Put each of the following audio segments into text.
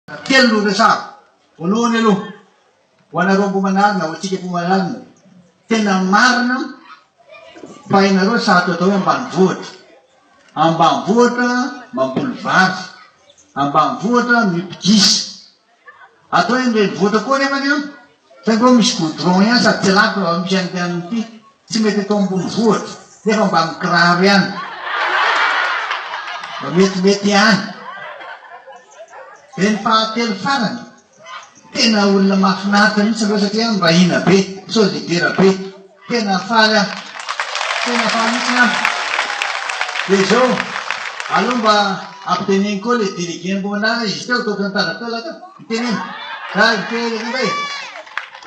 Telo no resahako. Voalohany aloha, ho anareo Ambohimanarina, ho antsika Ambohimanarina, tena marina fa ianareo sarotra atao hoe ambanivohitra. Ambanivohitra mamboly vary, ambanivohitra mipidisa. Atao hoe ny renivohitra koa nefany an, Zay vao misy goudron ihany sady tsy lafo raha misy an'ity anona ity, tsy mety eto ambonivohitra nefa mba mikiraro ihany mba metimety ihany. Dia ny fahatelo farany, tena olona mahafinaritra mihitsy ireo satria mba hina be, sôlidera be. Tena faly aho, tena faly mihitsiny aho. Dia izao, aleo mba ampiteneniko koa ilay délégué Mbona izy teo, ataoko mitazana teo lahatra, miteneno. Za mitery an'io hoe,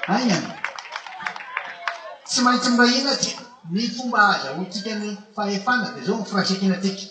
aingana, tsy maintsy mba hihina tsika, ny fomba ahazahoantsika ny fahefana dia izao no firaisankina antsika.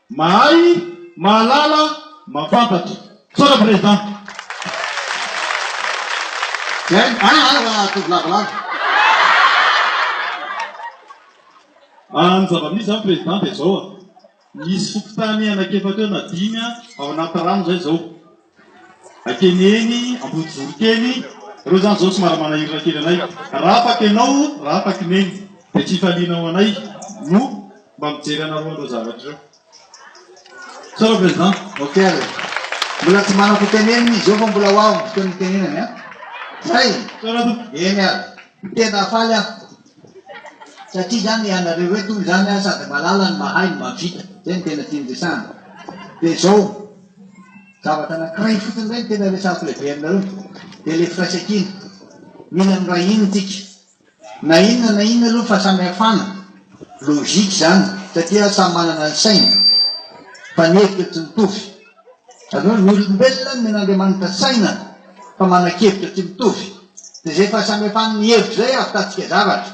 Mahay, mahalala, mampantatra. Misaotra Président. Zay, ah ah ah atovy lavalava. Ah ny zava-misy zany Président dia zao a, misy fokontany anak'efatra eo na dimy a, ao anaty rano zay zao. Akeny eny Ambodijoro kely, ireo izany izao somary manahirana kely anay. Raha afaka ianao, raha afaka i Neny, dia tsy hifalianao anay no mba mijery anareo an'ireo zavatra ireo. Sao le Président. Ok ary e. Mbola tsy manako tenenina izy eo fa mbola ho avy ny fotoana hitenenany an. Zay! Sao raha toa. Eny ary. Tena faly aho. Satria izany ianareo eto izany sady malala ny mahay no mahavita. Zay no tena tiany resahana. Dia izao. Zavatra anankiray fotsiny indray no tena resahiko lehibe aminareo, dia ilay firaisankina. Mila miray hina isika. Na inona na inona aloha ny fahasamihafana, logique izany, satria samy manana ny sainy, fa ny hevitra tsy mitovy. Azonareo, ny olombelona nomen'Andriamanitra saina fa manan-kevitra tsy mitovy. Dia izay fahasamihafan'ny hevitra izay ahavitantsika zavatra.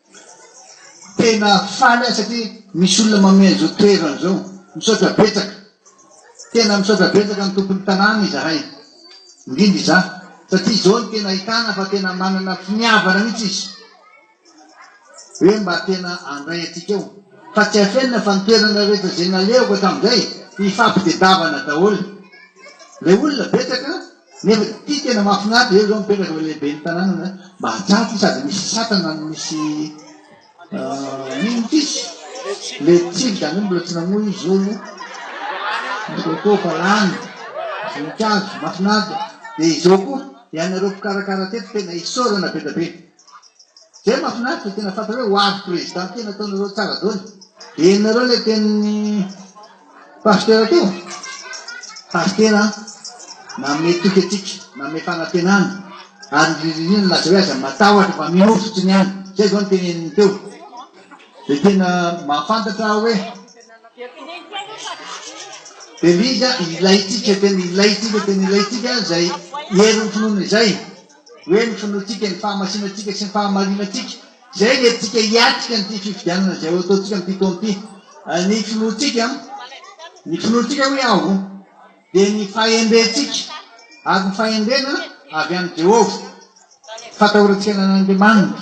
Tena faly aho satria misy olona manome an'izao toerana izao. Misaotra betsaka. Tena misaotra betsaka ny tompon'ny tanàna izahay, indrindra izaho, satria izao no tena ahitana fa tena manana finiavana mihitsy izy hoe mba tena handray antsika ao. Fa tsy afenina fa ny toerana rehetra izay nalehako hatramin'izay, ifampitadiavana daholo. Ilay olona betsaka. Nefa ity tena mahafinaritra, eo zao mipetraka ilay lehiben'ny tanàna mba hajaty sady misy satana no misy inona izy le tsivy zany mbola tsy namoy izy zao aloha ny coco fa lany voninkazo mahafinaritra dia izao koa ianareo mpikarakara teto tena isaorana be dia be Zay mafinaritra tena fantatra hoe hoavy président tena ataonareo tsara dôly. Henonareo ilay tenin'ny pasitera teo? Pasitera nanome toky antsika, nanome fanantenana ary ny ririnina nilaza hoe aza matahotra fa mino fotsiny ihany. Zay zao ny teneniny teo. Dia tena mahafantatra aho hoe Belize ilaintsika tena ilaintsika tena ilaintsika izay herin'ny finoana izay. hoe ny finoantsika, ny fahamasinantsika sy ny fahamarinantsika. Izay ny antsika hiatrika an'ity fifidianana izay ho ataontsika amin'ity taona ity. Ny finoantsika, ny finoantsika hoe aho, dia ny fahendrentsika, ary ny fahendrena avy amin'i Jehovah, fatahorantsika an'Andriamanitra.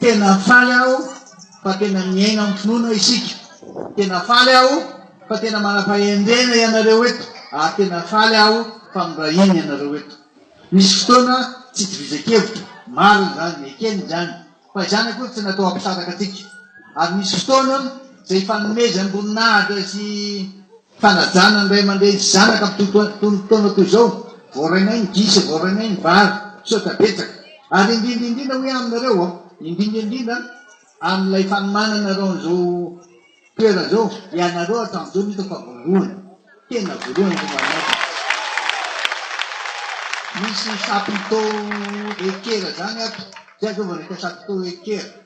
Tena faly aho fa tena miaina amin'ny finoana isika. Tena faly aho fa tena manam-pahendrena ianareo eto ary tena faly aho fa miray hina ianareo eto. Misy fotoana tsy itovizan-kevitra, marina izany, ekena izany, fa izany akory tsy natao hampisaraka antsika. Ary misy fotoana izay ifanomezam-boninahitra sy. Fanajana ny ray aman-dreny sy zanaka amin'itony fotoana itony toy izao, vao rainay ny gisa, vao rainay ny vary, misaotra betsaka. Ary indrindra indrindra hoy aho aminareo an, indrindra indrindra amin'ilay fanomananareo an'izao toerana izao, ianareo hatramin'izao no hitako fa voalohany, tena voalohany eto Mahamasina. Misy chapiteau ekera izany ato, zay zao vao nahita chapiteau ekera.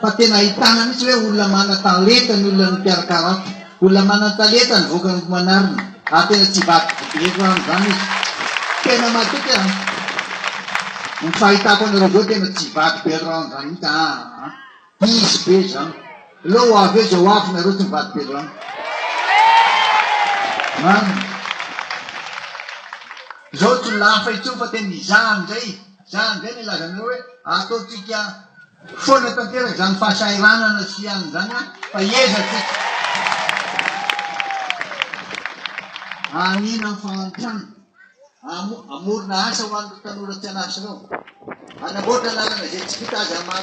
fa tena ahitana mihitsy hoe olona manan-talenta ny olona mikarakara ato, olona manan-talenta ny vokany gomanarina, ary tena tsy hivadika ireto aminy izany izy, tena matoky aho an, ny fahitako anareo zao tena tsy hivadika ireto aminy izany mihitsy aa, diso be izany, aleo ho avy eo izay ho avy nareo tsy mivadika ireto aminy, marina, izao tsy ho lafo intsony fa tena izaho indray. Zany ve no ilazanareo hoe ataontsika foana tanteraka izany fahasahiranana sy hianina izany an, fa hiezaky tsika hanina fahantrana, hamorona asa ho an'ireo tanora tsy an'asa ireo, hanamboatra lalana izay tsy vita aza maha.